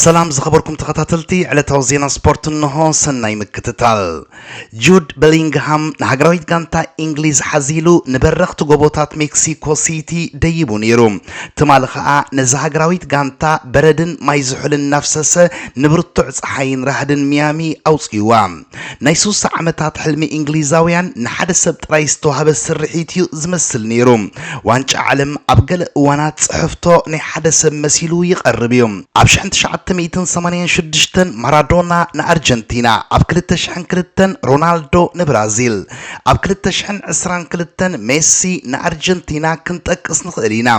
ሰላም ዝኸበርኩም ተኸታተልቲ ዕለታዊ ዜና ስፖርት እንሆ፣ ሰናይ ምክትታል። ጁድ በሊንግሃም ንሃገራዊት ጋንታ ኢንግሊዝ ሓዚሉ ንበረኽቲ ጎቦታት ሜክሲኮ ሲቲ ደይቡ ነይሩ። ትማሊ ከኣ ነዚ ሃገራዊት ጋንታ በረድን ማይ ዝሑልን እናፍሰሰ ንብርቱዕ ጸሓይን ራህድን ሚያሚ ኣውጺእዋ። ናይ ስሳ ዓመታት ሕልሚ እንግሊዛውያን ንሓደ ሰብ ጥራይ ዝተዋህበ ስርሒት እዩ ዝመስል ነይሩ። ዋንጫ ዓለም ኣብ ገለ እዋናት ጽሕፍቶ ናይ ሓደ ሰብ መሲሉ ይቐርብ እዩ። ኣብ ሽሕን ትሽዓተ ሚእትን ሰማንያን ሽዱሽተን ማራዶና ንኣርጀንቲና፣ ኣብ ክልተ ሽሕን ክልተን ሮናልዶ ንብራዚል፣ ኣብ ክልተ ሽሕን ዕስራን ክልተን ሜሲ ንኣርጀንቲና ክንጠቅስ ንኽእል ኢና።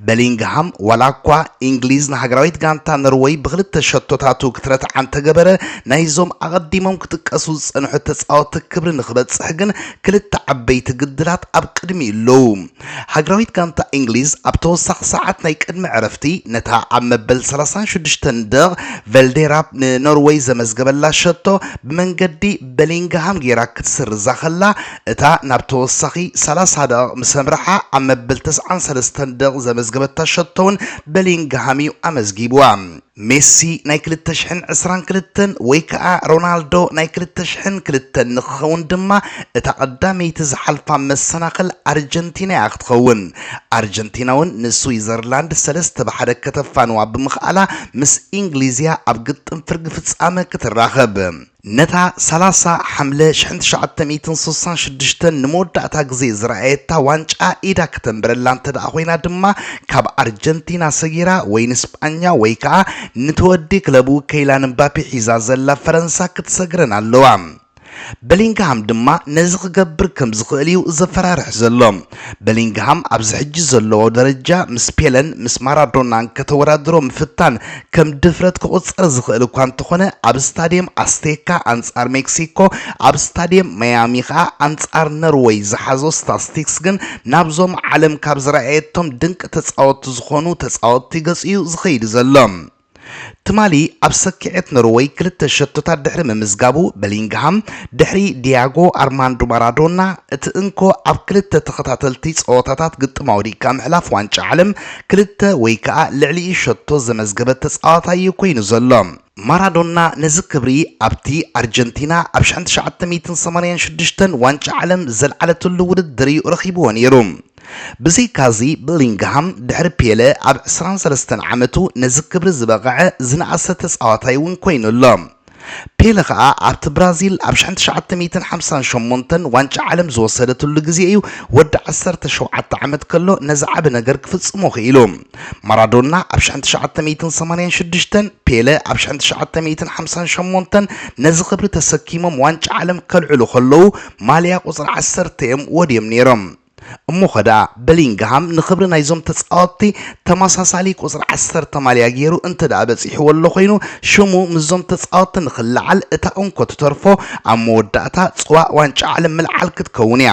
በሊንግሃም ዋላኳ ኢንግሊዝ ንሃገራዊት ጋንታ ኖርወይ ብክልተ ሸቶታቱ ክትረትዓ እንተገበረ ናይዞም ኣቐዲሞም ክጥቀሱ ዝጸንሑ ተጻወቲ ክብሪ ንክበጽሕ ግን ክልተ ዓበይቲ ግድላት ኣብ ቅድሚኡ ኣለዉ። ሃገራዊት ጋንታ ኢንግሊዝ ኣብ ተወሳኺ ሰዓት ናይ ቅድሚ ዕረፍቲ ነታ ኣብ መበል ሰላሳን ሽዱሽተን ደቕ ቨልዴራፕ ንኖርወይ ዘመዝገበላ ሸቶ ብመንገዲ በሊንግሃም ገይራ ክትስርዛ ከላ እታ ናብ ተወሳኺ ሰላሳ ደቕቕ ምስ ኣምርሓ ኣብ መበል ተስዓን ሰለስተን ደቕቕ ዘመዝገበታ ሸቶ'ውን በሊንግሃም'ዩ ኣመዝጊቡዋ። ሜሲ ናይ ክልተ ሽሕን ዕስራን ክልተን ወይ ከኣ ሮናልዶ ናይ ክልተ ሽሕን ክልተን ንኽኸውን ድማ እታ ቀዳመይቲ ዝሓልፋ መሰናኽል ኣርጀንቲና'ያ ክትኸውን። ኣርጀንቲና'ውን ንስዊዘርላንድ ሰለስተ ብ ሓደ ከተፋንዋ ብምኽኣላ ምስ ኢንግሊዝ'ያ ኣብ ግጥም ፍርጊ ፍጻመ ክትራኸብ። ነታ ሰላሳ ሓምለ ሽሕን ትሽዓተ ሚእትን ስሳን ሽዱሽተን ንመወዳእታ ግዜ ዝረኣየታ ዋንጫ ኢዳ ከተንብረላ እንተደኣ ኮይና ድማ ካብ ኣርጀንቲና ሰጊራ ወይ ንስጳኛ ወይ ከኣ ንተወዲ ክለቡ ከይላን እምባፔ ሒዛ ዘላ ፈረንሳ ክትሰግረን ኣለዋ። በሊንግሃም ድማ ነዚ ክገብር ከም ዝኽእል'ዩ ዘፈራርሕ ዘሎ። በሊንግሃም ኣብዚ ሕጂ ዘለዎ ደረጃ ምስ ፔለን ምስ ማራዶናን ከተወዳድሮ ምፍታን ከም ድፍረት ክቑጸር ዝኽእል እኳ እንተኾነ ኣብ ስታድየም ኣስቴካ ኣንጻር ሜክሲኮ ኣብ ስታድየም ማያሚ ከኣ ኣንጻር ነርወይ ዝሓዞ ስታስቲክስ ግን ናብዞም ዓለም ካብ ዝረኣየቶም ድንቂ ተጻወቲ ዝኾኑ ተጻወቲ ገጹ እዩ ዝኸይድ ዘሎ። ትማሊ ኣብ ሰኪዔት ኖርወይ ክልተ ሸቶታት ድሕሪ ምምዝጋቡ በሊንግሃም ድሕሪ ዲያጎ ኣርማንዶ ማራዶና እቲ እንኮ ኣብ ክልተ ተኸታተልቲ ጸወታታት ግጥም ኣውዲቕካ ምሕላፍ ዋንጫ ዓለም ክልተ ወይ ከኣ ልዕሊኡ ሸቶ ዘመዝገበ ተጻዋታይ እዩ ኮይኑ ዘሎ። ማራዶና ነዚ ክብሪ ኣብቲ ኣርጀንቲና ኣብ ሽሕን ትሽዓተ ሚእትን ሰማንያን ሽዱሽተን ዋንጫ ዓለም ዘልዓለትሉ ውድድር እዩ ረኺብዎ ነይሩ። ብዘይካዚ፣ በሊንግሃም ድሕሪ ፔለ ኣብ ዕስራን ሰለስተን ዓመቱ ነዚ ክብሪ ዝበቐዐ ዝነኣሰ ተጻዋታይ እውን ኰይኑ ኣሎ። ፔለ ከኣ ኣብቲ ብራዚል ኣብ ሽሕን ትሽዓተ ሚእትን ሓምሳን ሸሞንተን ዋንጫ ዓለም ዝወሰደትሉ ግዜ እዩ ወዲ ዓሰርተ ሸውዓተ ዓመት ከሎ ነዚ ዓቢ ነገር ክፍጽሞ ክኢሉ። ማራዶና ኣብ ሽሕን ትሽዓተ ሚእትን ሰማንያን ሽዱሽተን፣ ፔለ ኣብ ሽሕን ትሽዓተ ሚእትን ሓምሳን ሸሞንተን ነዚ ክብሪ ተሰኪሞም ዋንጫ ዓለም ከልዕሉ ከለዉ ማልያ ቁጽሪ ዓሰርተ እዮም ወድዮም ነይሮም። እሞ'ኸ ደኣ በሊንግሃም ንኽብሪ ናይዞም ተጻወትቲ ተመሳሳሊ ቁጽሪ ዓሰርተ ማልያ ጌሩ እንተ ደኣ በጺሕዎ ኣሎ ኾይኑ፣ ሽሙ ምስዞም ተጻወትቲ ንኽለዓል እታ እንኮ ትተርፎ ኣብ መወዳእታ ጽዋእ ዋንጫ ዓለም ምልዓል ክትከውን እያ።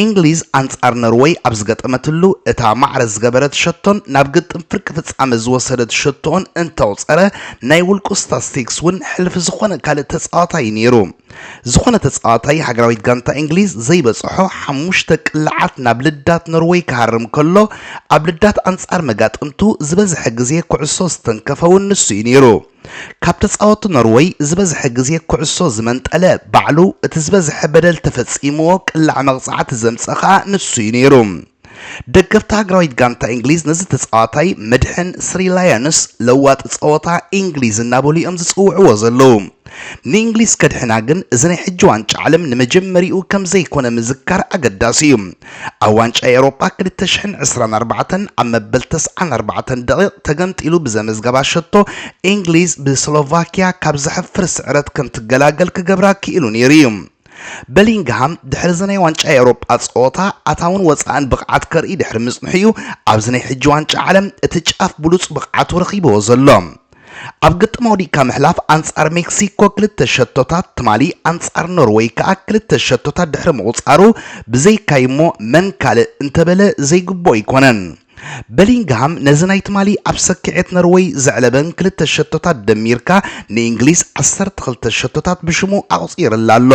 እንግሊዝ ኣንጻር ኖርወይ ኣብ ዝገጠመትሉ እታ ማዕረ ዝገበረት ሸቶን ናብ ግጥም ፍርቂ ፍጻመ ዝወሰደት ሸቶኡን እንተቑጸረ ናይ ውልቁ ስታስቲክስ እውን ሕልፊ ዝኾነ ካልእ ተጻዋታይ እዩ ኔሩ። ዝኾነ ተጻዋታይ ሃገራዊት ጋንታ እንግሊዝ ዘይበጽሖ ሓሙሽተ ቅልዓት ናብ ልዳት ኖርወይ ክሃርም ከሎ፣ ኣብ ልዳት ኣንጻር መጋጥምቱ ዝበዝሐ ግዜ ኩዕሶ ዝተንከፈ'ውን ንሱ'ዩ ነይሩ። ካብ ተጻወቲ ኖርወይ ዝበዝሐ ግዜ ኩዕሶ ዝመንጠለ ባዕሉ፣ እቲ ዝበዝሐ በደል ተፈጺምዎ ቅላዕ መቕጻዕቲ ዘምጽኣ ከኣ ንሱ'ዩ ነይሩ። ደገፍቲ ሃገራዊት ጋንታ እንግሊዝ ነዚ ተጻዋታይ መድሕን ስሪ ላዮንስ ለዋጢ ጸወታ እንግሊዝ እናበሉ እዮም ዝጽውዕዎ ዘለዉ። ንእንግሊዝ ከድሕና ግን እዚ ናይ ሕጂ ዋንጫ ዓለም ንመጀመሪኡ ከምዘይኮነ ምዝካር ኣገዳሲ እዩ። ኣብ ዋንጫ ኤውሮጳ ክልተ ሽሕን ዕስራን ኣርባዕተን ኣብ መበል ተስዓን ኣርባዕተን ደቒቕ ተገምጢሉ ብዘመዝገባ ሸቶ እንግሊዝ ብስሎቫክያ ካብ ዘሕፍር ስዕረት ከምትገላገል ክገብራ ክኢሉ ነይሩ እዩ። በሊንግሃም ድሕሪዚ ናይ ዋንጫ ኤውሮጳ ጸወታ ኣታውን ወጻእን ብቕዓት ከርኢ ድሕሪ ምጽንሑ'ዩ ኣብዚ ናይ ሕጂ ዋንጫ ዓለም እቲ ጫፍ ብሉጽ ብቕዓቱ ረኺብዎ ዘሎ። ኣብ ግጥም ኣውዲቕካ ምሕላፍ ኣንጻር ሜክሲኮ ክልተ ሸቶታት፣ ትማሊ ኣንጻር ኖርወይ ከኣ ክልተ ሸቶታት ድሕሪ ምቑጻሩ ብዘይካዩ'ሞ መን ካልእ እንተበለ ዘይግብኦ ኣይኮነን። በሊንግሃም ነዚ ናይ ትማሊ ኣብ ሰኪዔት ነርወይ ዘዕለበን ክልተ ሸቶታት ደሚርካ ንእንግሊዝ ዓሰርተ ክልተ ሸቶታት ብሽሙ ኣቑጺርላ ኣሎ።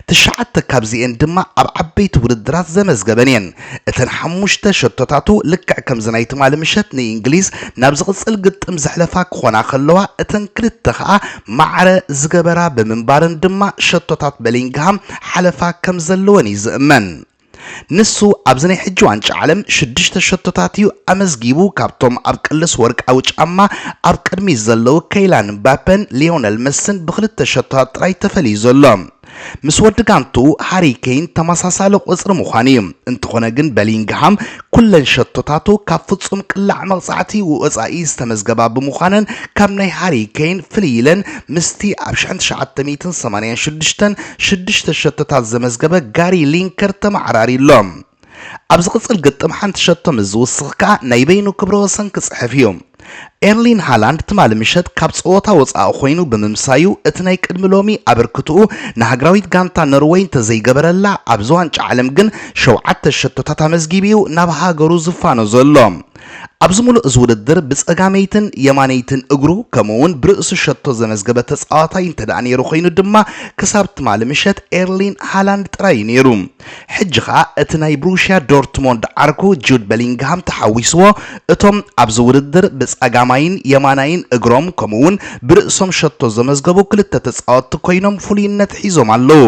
ትሽዓተ ካብዚኤን ድማ ኣብ ዓበይቲ ውድድራት ዘመዝገበን እየን። እተን ሓሙሽተ ሸቶታቱ ልክዕ ከምዚ ናይ ትማሊ ምሸት ንእንግሊዝ ናብ ዝቕጽል ግጥም ዘሕለፋ ክኾና ከለዋ እተን ክልተ ከኣ ማዕረ ዝገበራ ብምንባረን ድማ ሸቶታት በሊንግሃም ሓለፋ ከምዘለወን እዩ ዝእመን። ንሱ ኣብዚ ናይ ሕጂ ዋንጫ ዓለም ሽዱሽተ ሸቶታት እዩ ኣመዝጊቡ፣ ካብቶም ኣብ ቅልስ ወርቃዊ ጫማ ኣብ ቅድሚት ዘለዉ ከይላን እምባፐን ሊዮነል መስን ብኽልተ ሸቶታት ጥራይ ተፈልዩ ዘሎ ምስ ወዲ ጋንትኡ ሃሪ ከይን ተመሳሳሊ ቁጽሪ ምዃኑ እዩ፣ እንተኾነ ግን በሊንግሃም ኩለን ሸቶታቱ ካብ ፍጹም ቅላዕ መቕጻዕቲ ወጻኢ ዝተመዝገባ ብምዃነን ካብ ናይ ሃሪ ኬይን ፍልይ ኢለን ምስቲ ኣብ ሽሕን ትሽዓተ ሚእትን ሰማንያን ሽዱሽተን ሽዱሽተ ሸቶታት ዘመዝገበ ጋሪ ሊንከር ተመዓራርዩ ኣሎ። ኣብ ዝቕጽል ግጥም ሓንቲ ሸቶ ምስ ዝውስኽ ከኣ ናይ በይኑ ክብረ ወሰን ክጽሕፍ እዩ። ኤርሊን ሃላንድ ትማሊ ምሸት ካብ ጸወታ ወጻኢ ኮይኑ ብምምሳዩ እቲ ናይ ቅድሚ ሎሚ ኣበርክትኡ ንሃገራዊት ጋንታ ኖርወይ እንተዘይገበረላ ኣብዚ ዋንጫ ዓለም ግን ሸውዓተ ሸቶታት ኣመዝጊቡ'ዩ ናብ ሃገሩ ዝፋኖ ዘሎ። ኣብዚ ምሉእ እዚ ውድድር ብጸጋመይትን የማነይትን እግሩ ከምኡ'ውን ብርእሱ ሸቶ ዘመዝገበ ተጻዋታይ እንተድኣ ነይሩ ኮይኑ ድማ ክሳብ ትማሊ ምሸት ኤርሊን ሃላንድ ጥራይ'ዩ ነይሩ። ሕጂ ከኣ እቲ ናይ ብሩሽያ ዶርትሞንድ ዓርኩ ጁድ በሊንግሃም ተሓዊስዎ እቶም ኣብዚ ውድድር ብጸጋማይን የማናይን እግሮም ከምኡ'ውን ብርእሶም ሸቶ ዘመዝገቡ ክልተ ተጻወትቲ ኮይኖም ፍሉይነት ሒዞም ኣለዉ።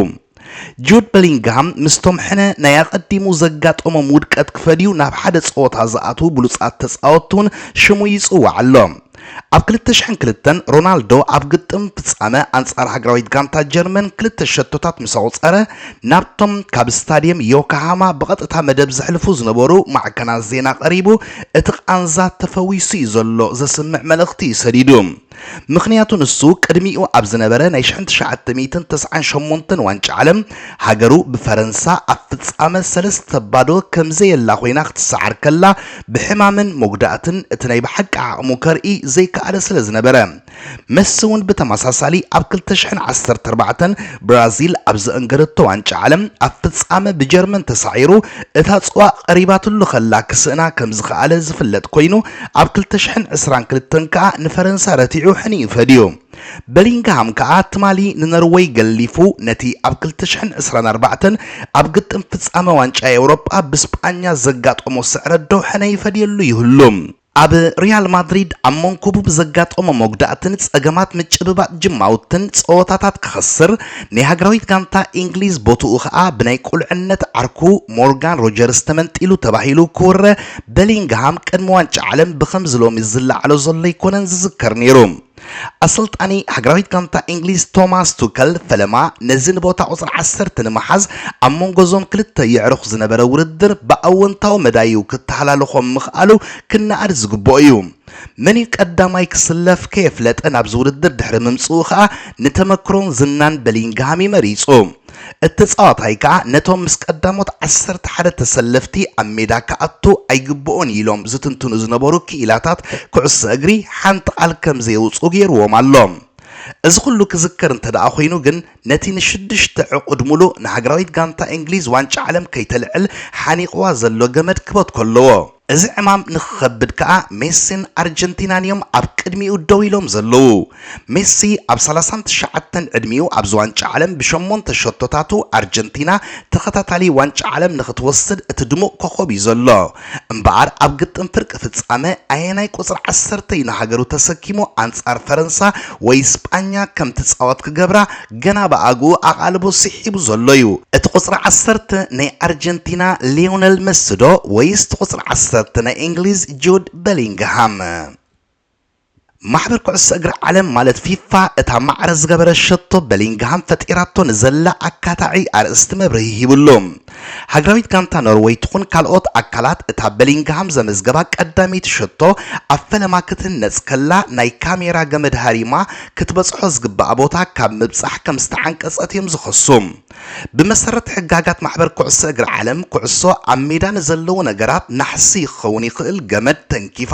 ጁድ በሊንግሃም ምስቶም ሕነ ናይ ኣቐዲሙ ዘጋጠሞም ውድቀት ክፈድዩ ናብ ሓደ ጸወታ ዝኣትዉ ብሉጻት ተጻወትቲ'ውን ሽሙ ይጽዋዕ ኣሎ። ኣብ ክልተ ሽሕን ክልተን፣ ሮናልዶ ኣብ ግጥም ፍጻመ ኣንጻር ሃገራዊት ጋንታ ጀርመን ክልተ ሸቶታት ምስ ኣቑጸረ፣ ናብቶም ካብ ስታድየም ዮካሃማ ብቐጥታ መደብ ዘሕልፉ ዝነበሩ ማዕከናት ዜና ቀሪቡ እቲ ቃንዛ ተፈዊሱ'ዩ ዘሎ ዘስምዕ መልእኽቲ'ዩ ሰዲዱ። ምኽንያቱ ንሱ ቅድሚኡ ኣብ ዝነበረ ናይ ሽሕን ትሽዓተ ሚእትን ተስዓን ሸሞንተን ዋንጫ ዓለም ሃገሩ ብፈረንሳ ኣብ ፍጻመ ሰለስተ ባዶ ከምዘየላ ኮይና ክትሰዓር ከላ ብሕማምን መጉዳእትን እቲ ናይ ብሓቂ ዓቕሙ ከርኢ ዘይከኣለ ስለ ዝነበረ። መሲ'ውን ብተመሳሳሊ ኣብ ክልተ ሽሕን ዓሰርተ ኣርባዕተን ብራዚል ኣብ ዘእንገደቶ ዋንጫ ዓለም ኣብ ፍጻመ ብጀርመን ተሳዒሩ እታ ጽዋ ቀሪባትሉ ከላ ክስእና ከም ዝኸኣለ ዝፍለጥ ኮይኑ ኣብ ክልተ ሽሕን ዕስራን ክልተን ከኣ ንፈረንሳ ረቲዑ ሕኒኡ ፈድዩ። በሊንግሃም ከኣ ትማሊ ንኖርወይ ገሊፉ ነቲ ኣብ ክልተ ሽሕን ዕስራን ኣርባዕተን ኣብ ግጥም ፍጻመ ዋንጫ ኤውሮጳ ብስጳኛ ዘጋጠሞ ስዕረት ደውሕነ ይፈድየሉ ይህሉ። ኣብ ሪያል ማድሪድ ኣብ መንኩቡ ብዘጋጠሞ መጉዳእትን ጸገማት ምጭብባጥ ጅማውትን ጸወታታት ክኸስር፣ ናይ ሃገራዊት ጋንታ ኢንግሊዝ ቦትኡ ከኣ ብናይ ቁልዕነት ዓርኩ ሞርጋን ሮጀርስ ተመንጢሉ ተባሂሉ ክውረ በሊንግሃም ቅድሚ ዋንጫ ዓለም ብኸምዚ ሎሚ ዝለዓሎ ዘሎ ኣይኮነን ዝዝከር ነይሩ። ኣሰልጣኒ ሃገራዊት ጋንታ እንግሊዝ ቶማስ ቱከል ፈለማ ነዚ ንቦታ ቁጽሪ ዓሰርተ ንምሓዝ ኣብ መንጎ እዞም ክልተ የዕሩኽ ዝነበረ ውድድር ብኣወንታዊ መዳይ'ዩ ክተሃላልኾም ምኽኣሉ ክነኣድ ዝግብኦ እዩ። መን'ዩ ቀዳማይ ክስለፍ ከየፍለጠ ናብዚ ውድድር ድሕሪ ምምጽኡ ከኣ ንተመክሮን ዝናን በሊንግሃም'ዩ መሪጹ። እቲ ተጻዋታይ ከኣ ነቶም ምስ ቀዳሞት ዓሰርተ ሓደ ተሰለፍቲ ኣብ ሜዳ ክኣቱ ኣይግብኦን ኢሎም ዝትንትኑ ዝነበሩ ክኢላታት ኩዕሶ እግሪ ሓንቲ ቃል ከም ዘየውጽኡ ገይርዎም ኣሎ። እዚ ኩሉ ክዝከር እንተደኣ ኮይኑ ግን ነቲ ንሽዱሽተ ዕቑድ ምሉእ ንሃገራዊት ጋንታ እንግሊዝ ዋንጫ ዓለም ከይተልዕል ሓኒቕዋ ዘሎ ገመድ ክበትኮ ኣለዎ። እዚ ዕማም ንክኸብድ ከኣ ሜሲን ኣርጀንቲናን እዮም ኣብ ቅድሚኡ ደው ኢሎም ዘለዉ። ሜሲ ኣብ ሰላሳን ትሽዓተን ዕድሚኡ ኣብዚ ዋንጫ ዓለም ብሸሞንተ ሸቶታቱ ኣርጀንቲና ተኸታታሊ ዋንጫ ዓለም ንክትወስድ እቲ ድሙቕ ኮኾብ እዩ ዘሎ። እምበኣር ኣብ ግጥም ፍርቂ ፍጻመ ኣየናይ ቁጽሪ ዓሰርተ እዩ ንሃገሩ ተሰኪሙ ኣንጻር ፈረንሳ ወይ ስጳኛ ከም ትጻወት ክገብራ ገና ብኣግኡ ኣቓልቦ ስሒቡ ዘሎ'ዩ። እቲ ቁጽሪ ዓሰርተ ናይ ኣርጀንቲና ሊዮነል መሲ'ዶ ወይስ እቲ ቁጽሪ ዓሰርተ ናይ እንግሊዝ ጁድ በሊንግሃም? ማሕበር ኩዕሶ እግሪ ዓለም ማለት ፊፋ እታ ማዕረ ዝገበረት ሸቶ በሊንግሃም ፈጢራቶ ንዘላ ኣካታዒ ኣርእስቲ መብርሂ ሂቡሉ። ሃገራዊት ጋንታ ኖርወይ ትኹን ካልኦት ኣካላት እታ በሊንግሃም ዘመዝገባ ቀዳመይቲ ሸቶ ኣብ ፈለማ ክትህነጽ ከላ ናይ ካሜራ ገመድ ሃሪማ ክትበጽሖ ዝግባኣ ቦታ ካብ ምብጻሕ ከም ዝተዓንቀጸት እዮም ዝኸሱ። ብመሰረት ሕጋጋት ማሕበር ኩዕሶ እግሪ ዓለም ኩዕሶ ኣብ ሜዳ ንዘለዉ ነገራት ናሕሲ ክኸውን ይኽእል ገመድ ተንኪፋ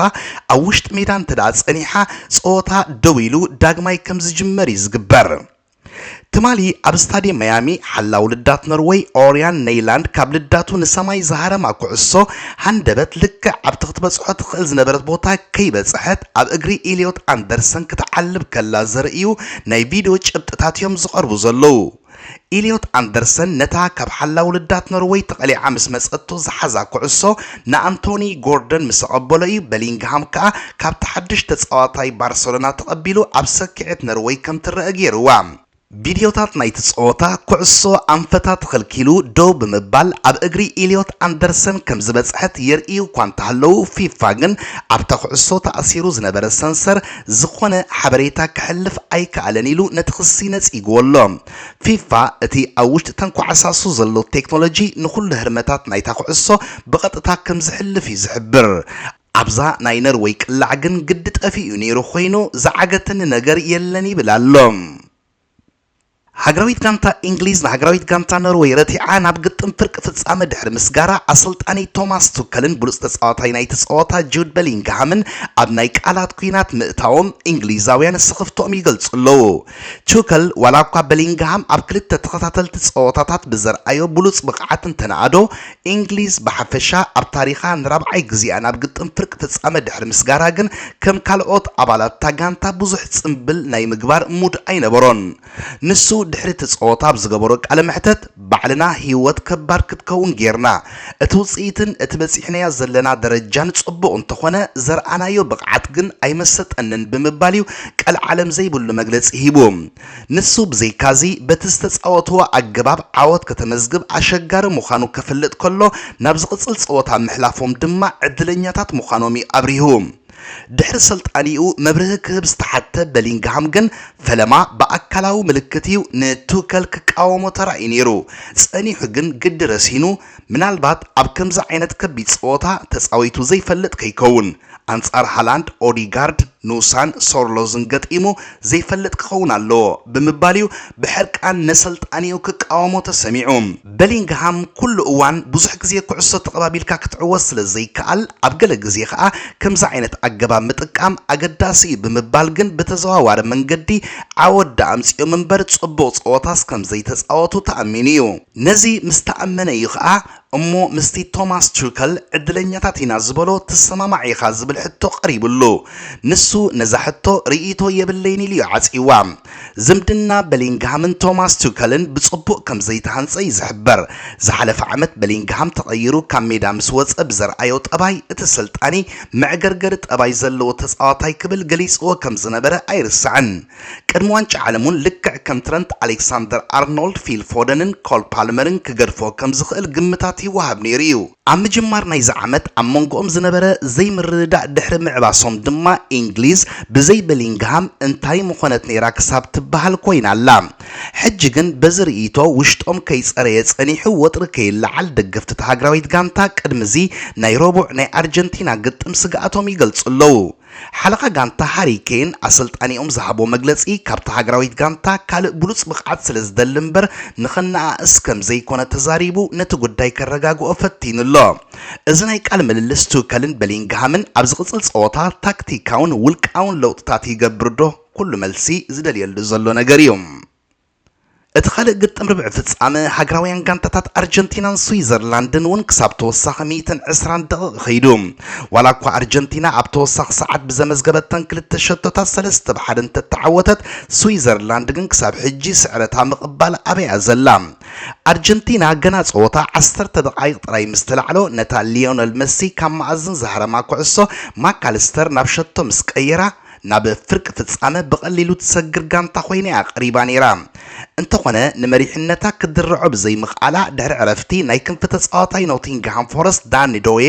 ኣብ ውሽጢ ሜዳ እንተድኣ ጸኒሓ ጸወታ ደው ኢሉ ዳግማይ ከም ዝጅመር እዩ ዝግበር። ትማሊ ኣብ ስታድየም መያሚ ሓላው ልዳት ኖርወይ ኦርያን ነይላንድ ካብ ልዳቱ ንሰማይ ዝሃረማ ኩዕሶ ሃንደበት ልክዕ ኣብቲ ክትበጽሖ ትኽእል ዝነበረት ቦታ ከይበጽሐት ኣብ እግሪ ኢልዮት ኣንደርሰን ክትዓልብ ከላ ዘርእዩ ናይ ቪድዮ ጭብጥታት'ዮም ዝቐርቡ ዘለዉ። ኢልዮት ኣንደርሰን ነታ ካብ ሓላው ልዳት ኖርወይ ተቐሊዓ ምስ መጸቶ ዝሓዛ ኩዕሶ ንኣንቶኒ ጎርደን ምስ ተቐበሎ እዩ፣ በሊንግሃም ከኣ ካብቲ ሓድሽ ተጻዋታይ ባርሰሎና ተቐቢሉ ኣብ ሰኪዔት ነርወይ ከም ትረኣ ገይሩዋ። ቪድዮታት ናይቲ ጸወታ፣ ኩዕሶ ኣንፈታ ተኸልኪሉ ደው ብምባል ኣብ እግሪ ኢልዮት ኣንደርሰን ከም ዝበጽሐት የርእዩ እኳ እንተሃለዉ፣ ፊፋ ግን ኣብታ ኩዕሶ ተኣሲሩ ዝነበረ ሰንሰር ዝዀነ ሓበሬታ ከሕልፍ ኣይከኣለን ኢሉ ነቲ ክሲ ነጺግዎ ኣሎ። ፊፋ እቲ ኣብ ውሽጢ እተን ኳዕሳሱ ዘሎ ቴክኖሎጂ ንኹሉ ህርመታት ናይታ ኩዕሶ ብቐጥታ ከም ዝሕልፍ እዩ ዝሕብር። ኣብዛ ናይ ነርወይ ቅላዕ ግን ግዲ ጠፊኡ ነይሩ ኮይኑ ዝዓገተኒ ነገር የለን ይብል ኣሎ። ሃገራዊት ጋንታ ኢንግሊዝ ንሃገራዊት ጋንታ ኖርወይ ረቲዓ ናብ ግጥም ፍርቂ ፍጻመ ድሕሪ ምስጋራ፣ ኣሰልጣኒ ቶማስ ቱከልን ብሉጽ ተጻዋታይ ናይቲ ጸወታ ጁድ በሊንግሃምን ኣብ ናይ ቃላት ኲናት ምእታዎም ኢንግሊዛውያን ስኽፍትኦም ይገልጹ ኣለዉ። ቱከል ዋላ'ኳ በሊንግሃም ኣብ ክልተ ተኸታተልቲ ጸወታታት ብዘርኣዮ ብሉጽ ብቕዓት እንተነኣዶ፣ እንግሊዝ ብሓፈሻ ኣብ ታሪኻ ንራብዓይ ግዜኣ ናብ ግጥም ፍርቂ ፍጻመ ድሕሪ ምስጋራ ግን ከም ካልኦት ኣባላት'ታ ጋንታ ብዙሕ ጽምብል ናይ ምግባር ሙድ ኣይነበሮን። ንሱ ድሕሪ'ቲ ጸወታ ኣብ ዝገበሮ ቃለ መሕተት፣ ባዕልና ህይወት ከባድ ክትከውን ጌርና። እቲ ውጽኢትን እቲ በጺሕናዮ ዘለና ደረጃን ጽቡቕ እንተኾነ ዘርኣናዮ ብቕዓት ግን ኣይመሰጠንን ብምባል'ዩ ቀልዓለም ዘይብሉ መግለጺ ሂቡ። ንሱ ብዘይካ'ዚ በቲ ዝተጻወትዎ ኣገባብ ዓወት ከተመዝግብ ኣሸጋሪ ምዃኑ ከፍልጥ ከሎ ናብ ዝቕጽል ጸወታ ምሕላፎም ድማ ዕድለኛታት ምዃኖም'ዩ ኣብሪሁ። ድሕሪ ስልጣኒኡ መብርሂ ክህብ ዝተሓትተ በሊንግሃም ግን ፈለማ ብኣካላዊ ምልክት እዩ ንቱከል ክቃወሞ ተራእዩ ነይሩ። ጸኒሑ ግን ግዲ ረሲኑ፣ ምናልባት ኣብ ከምዚ ዓይነት ከቢድ ጸወታ ተጻዊቱ ዘይፈልጥ ከይከውን፣ ኣንጻር ሃላንድ፣ ኦዲጋርድ፣ ኑሳን ሶርሎዝን ገጢሙ ዘይፈልጥ ክኸውን ኣለዎ ብምባል'ዩ ብሕርቃን ነሰልጣኒኡ ክቃወሞ ተሰሚዑ። በሊንግሃም ኩሉ እዋን ብዙሕ ግዜ ኩዕሶ ተቐባቢልካ ክትዕወት ስለ ዘይከኣል፣ ኣብ ገለ ግዜ ከኣ ከምዚ ዓይነት ኣገባብ ምጥቃም ኣገዳሲ እዩ ብምባል ግን ብተዘዋዋሪ መንገዲ ዓወት ደኣ ኣምጺኦም'ምበር ጽቡቕ ጸወታስ ከም ዘይተጻወቱ ተኣሚኑ'ዩ። ነዚ ምስ ተኣመነ'ዩ ከኣ እሞ ምስቲ ቶማስ ቱከል ዕድለኛታት ኢና ዝበሎ ትሰማማዕ ኢኻ ዝብል ሕቶ ቀሪብሉ። ንሱ ነዛ ሕቶ ርእይቶ የብለይን ኢሉ እዩ ዓጽይዋ። ዝምድና በሊንግሃምን ቶማስ ቱከልን ብጽቡቕ ከም ዘይተሃንጸ እዩ ዝሕበር። ዝሓለፈ ዓመት በሊንግሃም ተቐይሩ ካብ ሜዳ ምስ ወጸ ብዘርኣዮ ጠባይ እቲ ኣሰልጣኒ መዕገርገሪ ጠባይ ዘለዎ ተጻዋታይ ክብል ገሊጽዎ ከም ዝነበረ ኣይርሳዕን። ቅድሚ ዋንጫ ዓለም እውን ልክዕ ከም ትረንት ኣሌክሳንደር ኣርኖልድ፣ ፊል ፎደንን ኮል ፓልመርን ክገድፎ ከም ዝኽእል ግምታት ይወሃብ ነይሩ እዩ። ኣብ ምጅማር ናይዚ ዓመት ኣብ መንጎኦም ዝነበረ ዘይምርድዳእ ድሕሪ ምዕባሶም ድማ ኢንግሊዝ ብዘይ በሊንግሃም እንታይ ምኾነት ነይራ ክሳብ ትበሃል ኮይና ኣላ። ሕጂ ግን በዚ ርእይቶ ውሽጦም ከይጸረየ ጸኒሑ ወጥሪ ከይለዓል ደገፍቲ እታ ሃገራዊት ጋንታ ቅድሚ እዚ ናይ ረቡዕ ናይ ኣርጀንቲና ግጥም ስግኣቶም ይገልጹ ኣለዉ። ሓለቓ ጋንታ ሃሪ ኬን ኣሰልጣኒኦም ዝሃቦ መግለጺ ካብታ ሃገራዊት ጋንታ ካልእ ብሉጽ ብቕዓት ስለ ዝደሊ እምበር ንኸነኣእስ ከም ዘይኰነ ተዛሪቡ ነቲ ጉዳይ ከረጋግኦ ፈቲኑ ኣሎ። እዚ ናይ ቃል ምልልስ ቱከልን በሊንግሃምን ኣብ ዝቕጽል ጸወታ ታክቲካውን ውልቃውን ለውጥታት ይገብር'ዶ? ኵሉ መልሲ ዝደልየሉ ዘሎ ነገር'ዩ። እቲ ካልእ ግጥም ርብዒ ፍጻመ፣ ሃገራውያን ጋንታታት ኣርጀንቲናን ስዊዘርላንድን እውን ክሳብ ተወሳኺ ሚእትን ዕስራን ደቒቕ ከይዱ። ዋላ እኳ ኣርጀንቲና ኣብ ተወሳኺ ሰዓት ብዘመዝገበተን ክልተ ሸቶታት ሰለስተ ብ ሓደ እንተተዓወተት፣ ስዊዘርላንድ ግን ክሳብ ሕጂ ስዕረታ ምቕባል ኣብያ'ያ ዘላ። ኣርጀንቲና ገና ጸወታ ዓሰርተ ደቓይቕ ጥራይ ምስ ተላዕሎ፣ ነታ ሊዮነል መሲ ካብ መኣዝን ዝሃረማ ኩዕሶ፣ ማካልስተር ናብ ሸቶ ምስ ቀየራ፣ ናብ ፍርቂ ፍጻመ ብቐሊሉ ትሰግር ጋንታ ኮይና'ያ ቀሪባ ነይራ። እንተኾነ ንመሪሕነታ ክትድርዖ ብዘይምኽኣላ ድሕሪ ዕረፍቲ ናይ ክንፊ ተጻዋታይ ኖቲንግሃም ፎረስት ዳኒ ዶዬ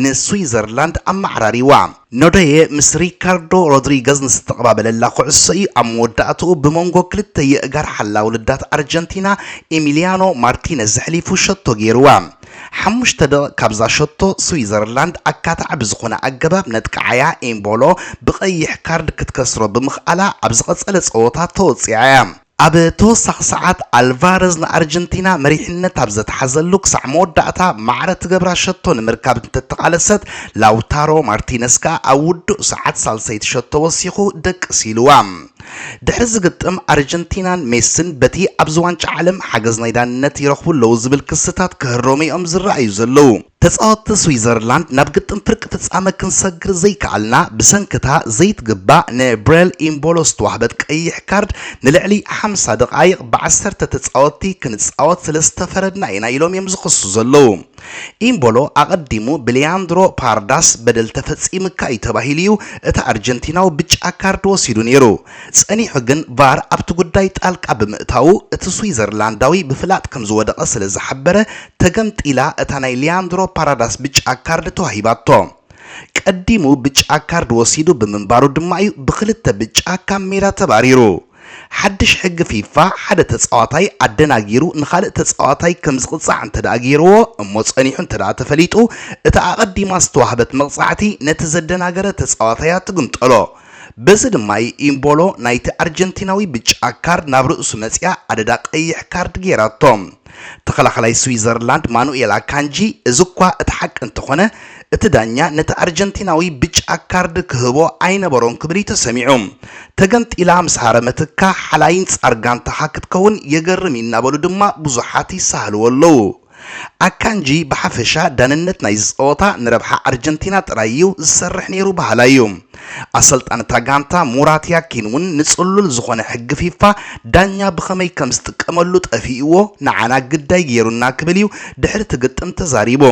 ንስዊዘርላንድ ኣመዓራሪዋ። ኖዶዬ ምስ ሪካርዶ ሮድሪገዝ ንዝተቐባበለላ ኩዕሶ'ዩ ኣብ መወዳእትኡ ብሞንጎ ክልተ የእጋር ሓላዊ ልዳት ኣርጀንቲና ኢሚልያኖ ማርቲነዝ ኣሕሊፉ ሸቶ ገይሩዋ። ሓሙሽተ ደቒቕ ካብዛ ሸቶ ስዊዘርላንድ ኣካታዒ ብዝኾነ ኣገባብ ነጥቅዓ'ያ፣ ኢምቦሎ ብቐይሕ ካርድ ክትከስሮ ብምኽኣላ ኣብ ዝቐጸለ ጸወታ ተወጺዓ'ያ። ኣብ ተወሳኺ ሰዓት ኣልቫረዝ ንኣርጀንቲና መሪሕነት ኣብ ዘትሓዘሉ ክሳዕ መወዳእታ ማዕረ ትገብራ ሸቶ ንምርካብ እንተተቓለሰት፣ ላውታሮ ማርቲነስ ከኣ ኣብ ውዱእ ሰዓት ሳልሰይቲ ሸቶ ወሲኹ ደቅስ ኢሉዋ። ድሕሪ እዚ ግጥም ኣርጀንቲናን ሜስን በቲ ኣብዚ ዋንጫ ዓለም ሓገዝ ናይ ዳንነት ይረኽቡ ኣለዉ ዝብል ክስታት ክህረሙ'ዮም ዝረኣዩ ዘለዉ። ተጻወትቲ ስዊዘርላንድ ናብ ግጥም ፍርቂ ፍጻመ ክንሰግር ዘይከኣልና ብሰንኪ'ታ ዘይትግባእ ንብሬል ኢምቦሎ ዝተዋህበት ቀይሕ ካርድ ንልዕሊ ሓምሳ ደቓይቕ ብዓሰርተ ተጻወትቲ ክንጻወት ስለ ዝተፈረድና ኢና ኢሎም'ዮም ዝኽሱ ዘለዉ። ኢምቦሎ ኣቐዲሙ ብሊያንድሮ ፓርዳስ በደል ተፈጺምካ እዩ ተባሂሉ እዩ እቲ ኣርጀንቲናዊ ብጫ ካርድ ወሲዱ ነይሩ። ጸኒሑ ግን ቫር ኣብቲ ጉዳይ ጣልቃ ብምእታዉ እቲ ስዊዘርላንዳዊ ብፍላጥ ከም ዝወደቐ ስለ ዝሓበረ ተገምጢላ እታ ናይ ሊያንድሮ ፓራዳስ ብጫ ካርድ ተዋሂባቶ። ቀዲሙ ብጫ ካርድ ወሲዱ ብምንባሩ ድማ እዩ ብኽልተ ብጫ ካብ ሜዳ ተባሪሩ። ሓድሽ ሕጊ ፊፋ ሓደ ተጻዋታይ ኣደናጊሩ ንኻልእ ተጻዋታይ ከም ዝቕጻዕ እንተድኣ ገይርዎ እሞ ጸኒሑ እንተድኣ ተፈሊጡ እታ ኣቐዲማ ዝተዋህበት መቕጻዕቲ ነቲ ዘደናገረ ተጻዋታያ ትግምጠሎ። በዚ ድማ እዩ ኢምቦሎ ናይቲ ኣርጀንቲናዊ ብጫ ካርድ ናብ ርእሱ መጺኣ ኣደዳ ቀይሕ ካርድ ገይራቶ። ተኸላኻላይ ስዊዘርላንድ ማኑኤል ኣካንጂ፣ እዚ'ኳ እቲ ሓቂ እንተኾነ፣ እቲ ዳኛ ነቲ ኣርጀንቲናዊ ብጫ ካርድ ክህቦ ኣይነበሮን ክብል'ዩ ተሰሚዑ። ተገንጢላ ምስ ሃረመትካ ሓላዪን ጻር ጋንታኻ ክትከውን የገርም'ዩ እናበሉ ድማ ብዙሓት ይሳሃልዎ ኣለዉ። ኣካንጂ ብሓፈሻ ዳንነት ናይዚ ጸወታ ንረብሓ ኣርጀንቲና ጥራይ'ዩ ዝሰርሕ ነይሩ በሃላይ'ዩ። ኣሰልጣኒ እታ ጋንታ ሙራት ያኪን እውን ንጽሉል ዝኾነ ሕጊ ፊፋ ዳኛ ብኸመይ ከም ዝጥቀመሉ ጠፊእዎ ንዓና ግዳይ ገይሩና ክብል እዩ ድሕሪ እቲ ግጥም ተዛሪቡ።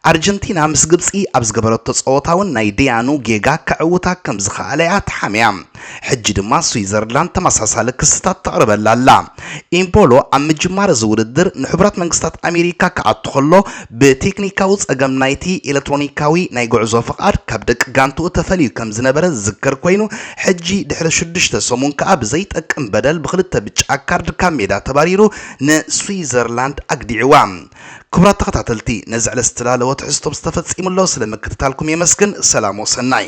ኣርጀንቲና ምስ ግብጺ ኣብ ዝገበረቶ ጸወታ እውን ናይ ደያኑ ጌጋ ከዕውታ ከም ዝኸኣለ እያ ተሓምያ። ሕጂ ድማ ስዊዘርላንድ ተመሳሳሊ ክስታት ተቕርበላ ኣላ። ኢምቦሎ ኣብ ምጅማር እዚ ውድድር ንሕቡራት መንግስታት ኣሜሪካ ክኣቱ ከሎ ብቴክኒካዊ ጸገም ናይቲ ኤለክትሮኒካዊ ናይ ጉዕዞ ፍቓድ ካብ ደቂ ጋንትኡ ተፈልዩ ከም ዝነበረ ዝዝከር ኮይኑ፣ ሕጂ ድሕሪ ሽዱሽተ ሰሙን ከኣ ብዘይጠቅም በደል ብኽልተ ብጫ ካርድ ካብ ሜዳ ተባሪሩ ንስዊዘርላንድ ኣግዲዕዋ። ክቡራት ተኸታተልቲ ነዚ ዕለት ዝተዳለወ ትሕዝቶ ምስ ተፈጺሙ ኣሎ ስለ ምክትታልኩም የመስግን። ሰላም ወሰናይ።